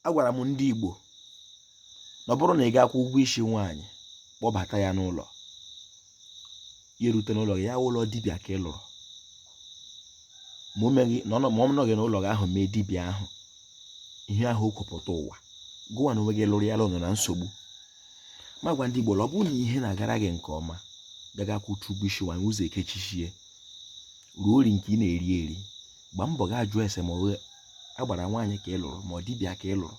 agwara m ndị Igbo na ọ bụrụ na ị gaa kwụọ ụgwọ isi nwaanyị kpọbata ya n'ụlọ ya erute n'ụlọ gị ya wụrụ dibịa ka ị lụrụ ma ọ nọghị n'ụlọ gị ahụ mee dibịa ahụ ihe ahụ o kwupụta ụwa gụwa na onwe gị lụrụ ya nọ na nsogbu ma gwa ndị Igbo ọ bụrụ na ihe na-agara gị nke ọma gị gaa kwụchaa ụgwọ isi nwaanyị ụzọ ekechichie ruo ori nke ị na-eri eri gba mbọ gaa jụọ ese ma ọ agbara nwaanyị ka ị lụrụ ma ọ dibịa ka ị lụrụ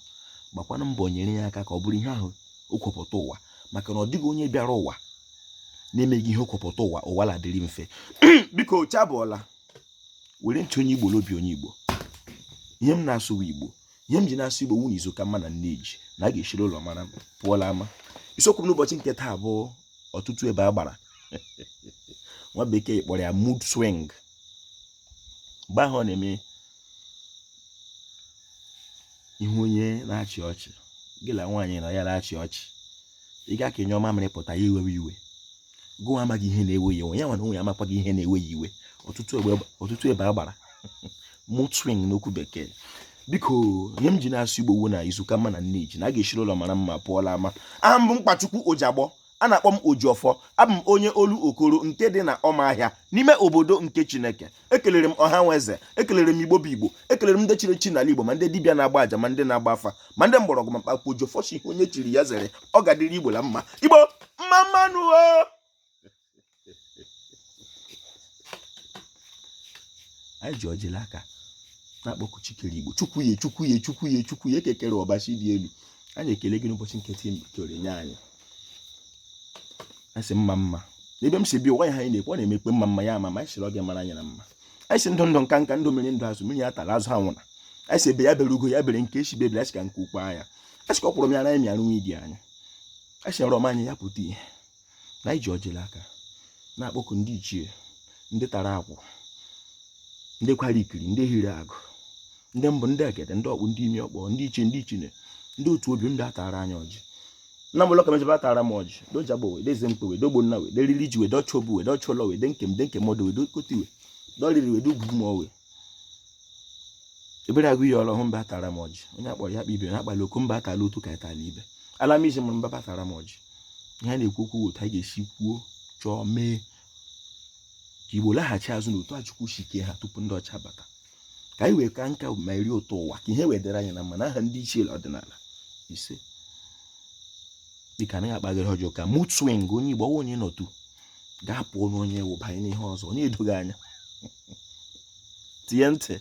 gbakwana mbọ nyere ya aka ka ọ bụrụ ihe ahụ o kwepụta ụwa maka na ọ dịghị onye bịara ụwa na-emeghị ihe o kwepụta ụwa ụwa ladịrị mfe biko chabụọla were ntị onye igbo n'obi onye igbo ihe m na-asụwa igbo ihe m ji na-asụ igbo wụ na izu ka mma na nne ji na a ga-eshiri ụlọ mara pụọ la ama isiokwu m n'ụbọchị nke taa bụ ọtụtụ ebe agbara nwa bekee kpọrọ ya mood swing mgbe ahụ ọ na-eme ị hụ onye na-achị ọchị gị na nwaanyị na ya na-achị ọchị ị gaa ka ị nyụọ mamịrị pụta ya ewewe iwe gụwa amaghị ihe na-ewe ya iwe ya nwa na onwe ya amakwaghị ihe na-ewe ya iwe ọtụtụ ebe agbara mood swing n'okwu bekee biko ihe m ji na-asụ igbo wụ na izu ka mma na nne ji na a ga-eshiri ụlọ mara mma pụọ la ama aha m bụ Mkpachukwu Ojiagbọ a na-akpọ m Ojiọfọ abụ m onye Olokoro nke dị na Ụmụahịa n'ime obodo nke Chineke ekelere m ọha nwe eze ekelere m igbo bụ igbo ekelere m ndị chiri echi n'ala igbo ma ndị dibịa na-agba aja ma ndị na-agba afa ma ndị mgbọrọgwụ ma mkpa akwụkwọ Ojiọfọ sị ihe onye chiri ya zere ọ ga-adịrị igbo na mma igbo mma mma nụ anyị ji ọjị la aka na-akpọku chi kere igbo chukwu ya chukwu ya chukwu ya chukwu ya eke kere Ọbasị dị elu anyị ekele gị n'ụbọchị nke taa i kere nye anyị asị mma mma n'ebe m si bi ụwa ya ha anyị na-ekwe ọ na-emekpe mma mma ya ama ma anyị sịrị oge mara anyị na mma anyị sị ndụ ndụ nka nka ndụ mmiri ndụ azụ mmiri ya atala azụ ya anwụna anyị sị egbe ya bere ugo ya bere nke sị ibe ebela a sị ka nku kwaa ya asị ka ọ kwụrụ m ya na anyị mịara nwa idi anya anyị sị nrọ ọma anyị ya pụta ihe na anyị ji ọjị la aka na-akpọku ndị ichie ndị tara akwụ ndị kwara ikiri ndị hiri agụ ndị mbụ ndị egede ndị ọkpụ ndị imi ọkpọ ndị ichie ndị ichine ndị otu obi bịa tara anyị ọjị nna m ụlọ kameje bịa tara m ọjị Dee Ojiagbọ nwa Dee eze mkpe nwa Dee Ogbonna nwa Dee riri ji nwa Dee ọchụ obu nwa Dee ọchụ ụlọ nwa Dee nkem Dee nkem ọdụ nwa Dee okoti nwa Dee ọriri nwa Dee ugwu m ọwe ebere agụ iyi ọrụ hụ bịa tara m ọjị onye a kpọrọ ya kpibiri ha kpara oku mba tara otu ka etala ibe ala m iji mụrụ m bịa tara m ọjị ihe a na-ekwu ọ wụ otu anyị ga-esi kwuo chọọ mee ka igbo laghachi azụ n'otu a chukwu si kee ha tupu ndị ọcha bata ka anyị wee kaa nka ma eri ụtọ ụwa ka ihe wee dịrị anyị na mma na aha ndị ichie ọdịnala isee dịka anaghị akpaghịrị ọjọọ ka mood swing onye igbo ọwa onye nọtu gaa pụọ n'onye wụbanye n'ihe ọzọ onye edoghị anya tie ntị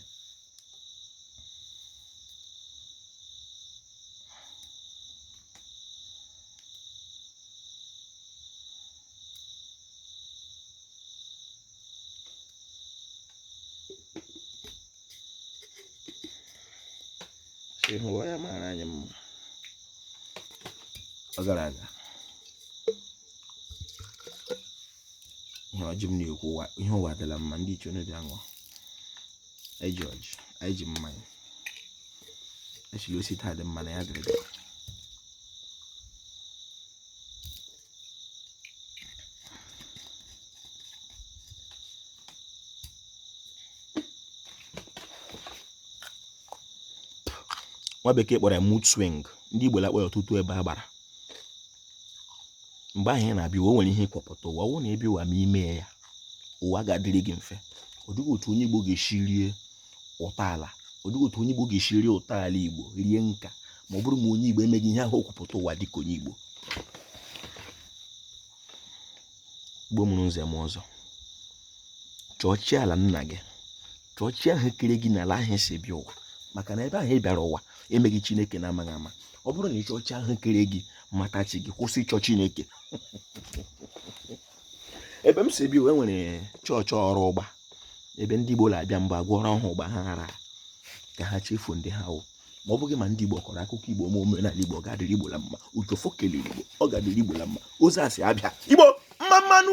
ịhụ ya mara anyị mma ọ gara aga ihe e ji m na-ekwu ihe ụwa dịla mma ndị ichie onye bịa ṅụọ anyị ji ọjị anyị ji mmanya a sịrị o si taa dị mma na ya dịrị dịrị nwa bekee kpọrọ ya morning ndị igbo la-akpọ ya ụtụtụ ebe a gbara mgbe ahụ ị na-abịa ụwa o nwere ihe i kwupụta ụwa ọ wụ na ị bịa ụwa ma i mee ya ụwa ga-adịrị gị mfe ọ dịghị otu onye Igbo ga-esi rie ụtọ ala ọ dịghị otu onye Igbo ga-esi rie ụtọ ala Igbo rie nka ma ọ bụrụ ma onye Igbo emeghị ihe ahụ o kwupụta ụwa dịka onye Igbo Igbo mụrụ nze m ọzọ chọọ chi ala nna gị chọọ chi ahụ kere gị n'ala ahụ i si bịa ụwa maka na ebe ahụ ị bịara ụwa emeghị chineke n'amaghị ama ọ bụrụ na ị chọọ chi ahụ kere gị mata chi gị kwụsị ịchọ chineke ebe m si bi wee nwere chọọchị ọrụ ụgba ebe ndị Igbo na-abịa mgbe agwọrọ ọhụụ ụgba ha ghara ka ha chefuo ndị ha wụ ma ọ bụrụ ma ndị Igbo kọrọ akụkọ Igbo ma omenala Igbo ọ ga-adịrị Igbo la mma ojiọfọ kelere Igbo ọ ga-adịrị Igbo la mma ozi asị abịa Igbo mma mma nụ